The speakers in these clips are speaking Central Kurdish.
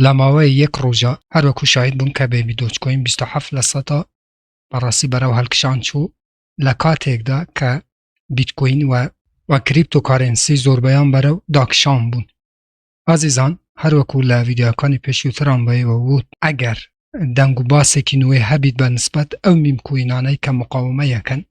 لەماوەی یەک ڕۆژا هەروەکو شاهید بوون کە بەیبی دۆجکۆین بیست و حەفت لە سەدا بەڕاستی بەرەو هەلکشان چوو لە کاتێکدا کە بیتکۆین وە وە کریپتۆ کارێنسی زۆربەیان بەرەو داکشان بوون ئازیزان هەروەکو لە ڤیدیۆکانی پێشووتران بەیەوە ووت ئەگەر دەنگ و باسێکی نوێ هەبیت بە نسبەت ئەو میم کوینانەی کە مقاومەیەکەن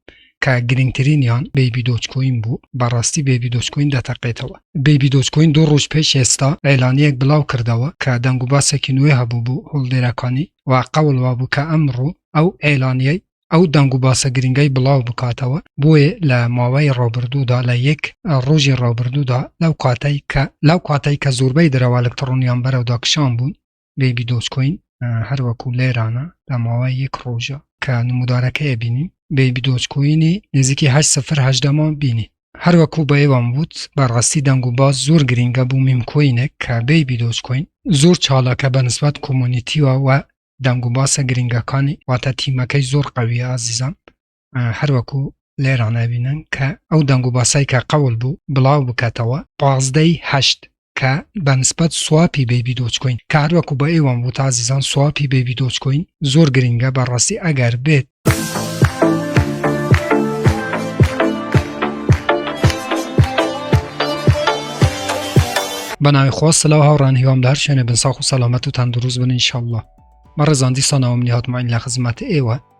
کە گرنگترینیان بەیبی دۆج کوین بوو بەڕاستی بەیبی دۆج کوین دەتەقێتەوە بەیبی دۆج کوین دوو ڕۆژ پێش ئێستا ئێلانیەک بڵاو کردەوە کە دەنگ و باسێکی نوێ هەبوو بوو هۆڵدێرەکانی و قەوڵ وابوو کە ئەمڕۆ ئەو ئێلانیەی ئەو دەنگ و باسە گرنگەی بڵاو بکاتەوە بۆیە لە ماوەی ڕابردوودا لە یەک ڕۆژی ڕابردوودا لەو کاتەی کە لەو کاتەی کە زۆربەی درەوە ئەلکتڕۆنیان بەرەودا کشان بوون بەیبی دۆجکۆین هەروەکو لێرانە داماوای یەک ڕۆژە کە نمودارەکەی بینی بەیبی دۆجکۆینی نزیکی هەشت سفر هەشدەمان بینی هەروەکو بە ئێوان وت بەڕاستی دەنگ و باز زۆر گرنگە بوو میمکۆینێک کە بەیبی دۆجکۆین زۆر چاڵەکە بە نسبەت کۆمۆنیتیوە و دەنگ و باسە گرنگەکانی واتە تیمەکەی زۆر قەویە ئازیزان هەروەکو لێران ئەبینن کە ئەو دەنگ و باسای کە قەول بوو بڵاو بکاتەوە پازدەی هەشت کە بە نسبەت سوپی بەیبی دۆچکۆین کاروەکو بە ئێوەم بوو تازیزان سوپی بەیبی دۆچکۆین زۆر گرنگە بەڕاستی ئەگەر بێت. بەناوی خۆ سلااو هاوڕان هیوام دار شوێنە بنساخ و سەلامەت و تەندروست بن انشاءله مەڕزاندی سانەوەم نیهاتماین لە خزمەت ئێوە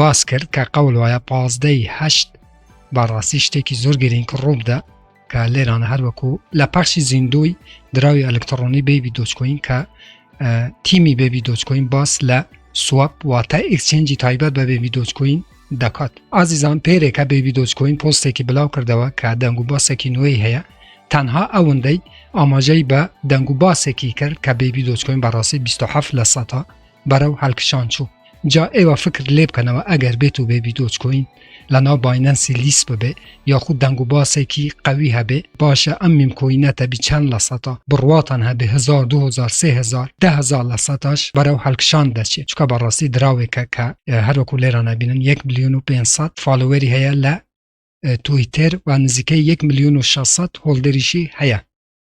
باس کرد کە قەول وایە پازدە ی هەشت بەڕاستی شتێکی زۆر گرینگ ڕووبدا کە لێرانە هەروەکو لە پەخشی زیندووی دراوی ئەلکتڕۆنی بێبی دۆچکۆین کە تیمی بێبی دۆچکۆین باس لە سوپ واتە ئکسچنجی تایبەت بە بێبی دۆچکۆین دەکات ئازیزان پێرێکە بێبی دۆچکۆین پۆستێکی بلاو کردەوە کە دەنگ و باسێکی نوێی هەیە تەنها ئەوەندەی ئاماژەی بە دەنگ و باسێکی کرد کە بێبی دۆچکۆین بەڕاستی 27 لە سەتا بەرەو هەڵکشان چوو جا ئێوە فکر لێ بکەنەوە ئەگەر بێت و بێبی دۆچکۆین لەناو باینەنسی لیست ببێ یاخود دەنگ و باسێکی قەوی هەبێ باشە ئەم میمکۆینە تەبی چەند لە سەتا بڕواتان هەبێ هزار دو هزار سێ هزار دە هزار لە سەتاش بەرەو هەڵکشان دەچێت چکە بەڕاستی دراوێکە کە هەروەکو لێرە نبینن یەک ملیۆن و پێنج سەد فالۆوەری هەیە لە تویتر و نزیکەی یەک ملیۆن و شەش سەد هۆڵدەریشی هەیە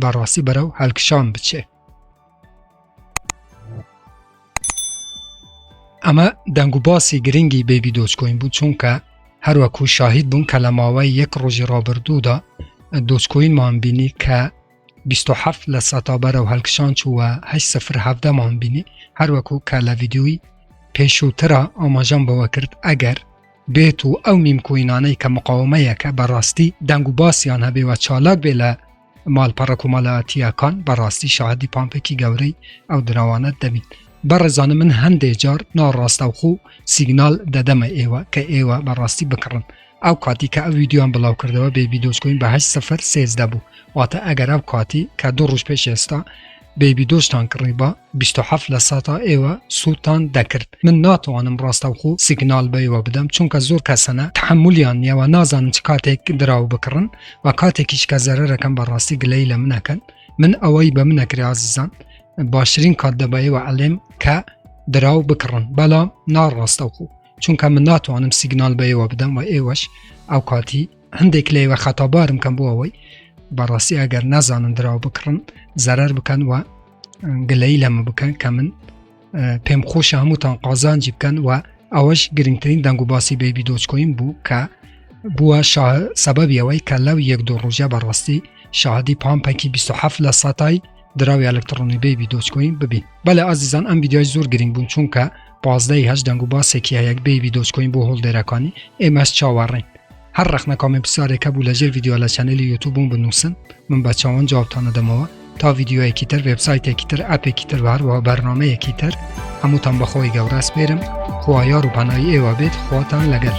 بەڕاستی بەرەو هەلکشان بچێ ئەمە دەنگ و باسی گرنگی بێبی دۆچکۆین بوو چونکە هەروەکو شاهید بوون کە لە ماوەی یەک ڕۆژی ڕابردوودا دۆچکۆینمان بینی کە 27 لە سەتا بەرە و هەلکشان چووە هە سفر هەفتەمان بینی هەروەکو کە لە ویددیوی پێشووترا ئاماژەم بەوە کرد ئەگەر بێت و ئەو نیم کۆینانەی کە مقاومەیەکە بەڕاستی دەنگ و باسیان هەبێ و چالاک بێ لە ماڵپەڕە کۆمەڵایەتییەکان بەڕاستی شاهدی پانپێکی گەورەی ئەو دراوانە دەبین بەڕێزانە من هەندێ جار ناڕاستەوخۆ سیگنال دەدەمە ئێوە کە ئێوە بەڕاستی بکڕن ئەو کاتی کە ئەو ویددیوان بڵاو کردەوە بێبی دۆچکۆین بەه سفر سێزدە بوو واتە ئەگەر ئەو کاتی کە دوو ڕژ پێش ئێستا بەیبی دۆزتان کڕیبا بیست و حەفت لە سەتا ئێوە سوودتان دەکرد من ناتوانم ڕاستەوخۆ سیگنال بە ئێوە بدەم چونکە زۆر کەسەنە تحملیان نیە و نازانن چ کاتێک دراو بکڕن و کاتێکیش کە زەرەرەکەم بەڕاستی گلەی لە منەکەن من ئەوەی بە منەکرێ ئازیزان باشترین کات دەبەیەوە ئەلێم کە دراو بکڕن بەڵام ناڕاستەوخۆ چونکە من ناتوانم سیگنال بە ئێوە بدەم و ئێوەش ئەو کاتی هەندێک لەیوە خەتابارم کەم بۆ ئەوەی بەڕاستی ئەگەر نازانن دراو بکڕن زەرەر بکەن و گلەی لەمە بکەن کە من پێم خۆش هەمووتان قازانجی بکەن و ئەوەش گرنگترین دەنگ و باسی بەیبی دۆچکۆین بوو کە بووە سەبەبیەوەی کە لەو یەک دوو ڕژە بەڕاستی شادی پامپەکی 27 لە سەتای دراوی ئەلکتڕۆنی بەیبی دۆچکۆین ببین بەلە ئازیزان ئەم ویددیوای زۆر گرنگ بوون چونکە پازدەی هەش دەنگ و باسێکی هەیەک بەیبی دۆچکۆین بۆ هۆڵدێرەکانی ئێمەش چاوەڕین هەر ڕخنە کامێ پرسیارێکە بوو لەژێر ویددیو لە چەنەلی یوتوبوون بنووسن من بە چاوان جوابتانە دەمەوە تا ویددیوەیەکی تر وبسایتێکی تر ئەپێکی تر هەروەها بەرنمەیەکی تر هەمووتان بەخۆی گەوراس پێرم خوا یار و پەنای ئێوە بێت خواتان لەگەل.